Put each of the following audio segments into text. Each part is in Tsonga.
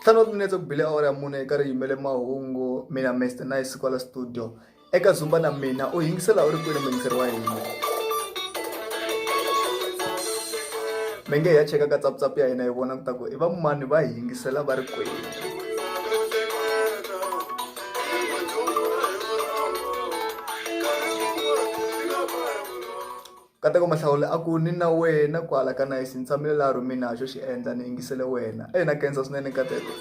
ntlhanu wa timinetse ku bile awara ya mune eka ri yimele mahungu mina mester nice kwala studio eka zumba na mina u yingisela u ri kwini muyingiseri wa hina mi nge hi ya cheka ka tsaputsapu ya hina hi vona ku ta ku i va mani va hi yingisela va ri kwini Nkateko Mahlawule a ku ni na wena kwala ka Nice ni tshamile laha rhumini ha xo xi endla ni yingisele wena eyi na khensa swinene Nkateko.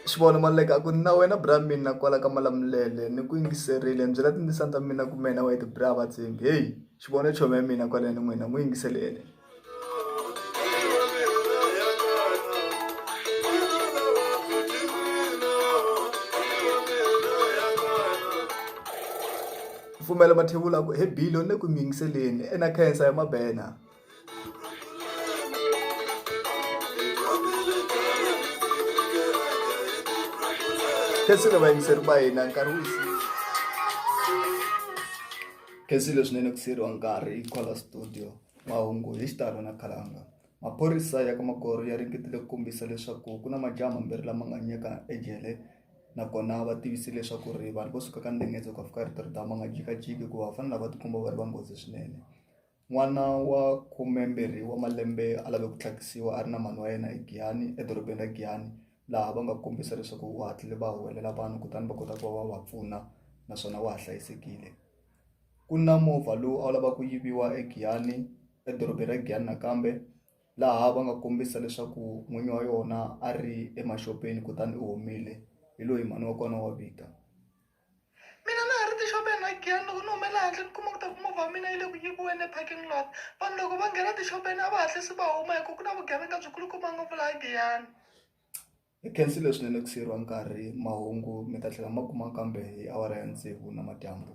Xivono Maluleke a ku ni na wena bra mina kwala ka Malamulele ni ku yingiserile ni byela tindzisana ta mina ku mehe na wena hi ti bra vatshembi heyi Xivono i chomi ya mina kwaleni n'wina n'wi yingiseleni. pfumela mathevula ku he bilo ni ku miyingiseleni ena khensa ya mabena khensile vayingiseri va hina nkarhi wu khensile swinene ku siyeriwa nkarhi yi khola studio Mahungu hi xitalo na khalanga. Maphorisa ya ka Magoro ya ringetile ku kombisa leswaku ku na majaha mambirhi lama nga nyeka ejele nakona va tivise leswaku ri vanhu vo suka ka ndengedzo ka fika rito ri dama nga jikajiki hikuva va fanele va tikomba va ri va nghozi swinene n'wana wa khumembirhi wa malembe a lave ku tlhakisiwa a ri na mhani wa yena egiyani edorobeni ra giyani laha va nga kombisa leswaku u hatlile va huwelela vanhu kutani va kota ku va va va pfuna naswona wa ha hlayisekile ku na movha lowu a wu lava ku yiviwa eGiyani edorobeni ra Giyani nakambe laha va nga kombisa leswaku n'winyi wa yona a ri emaxopeni kutani u humile hi loyi mhani wa kona wa vika mina na ha ri tixopeni ra Giyani loko ni humela handle ni kuma ku ta ku movha wa mina yi le ku yiviweni eparking lot vanhu loko va nghena tixopeni a va hatlisi va huma hikuva ku na vugevenga byikulukumba ngopfu laha Giyani Hi khensile swinene ku siyeriwa nkarhi mahungu mi ta tlhela ma kuma kambe hi awara ya tsevu na madyambu.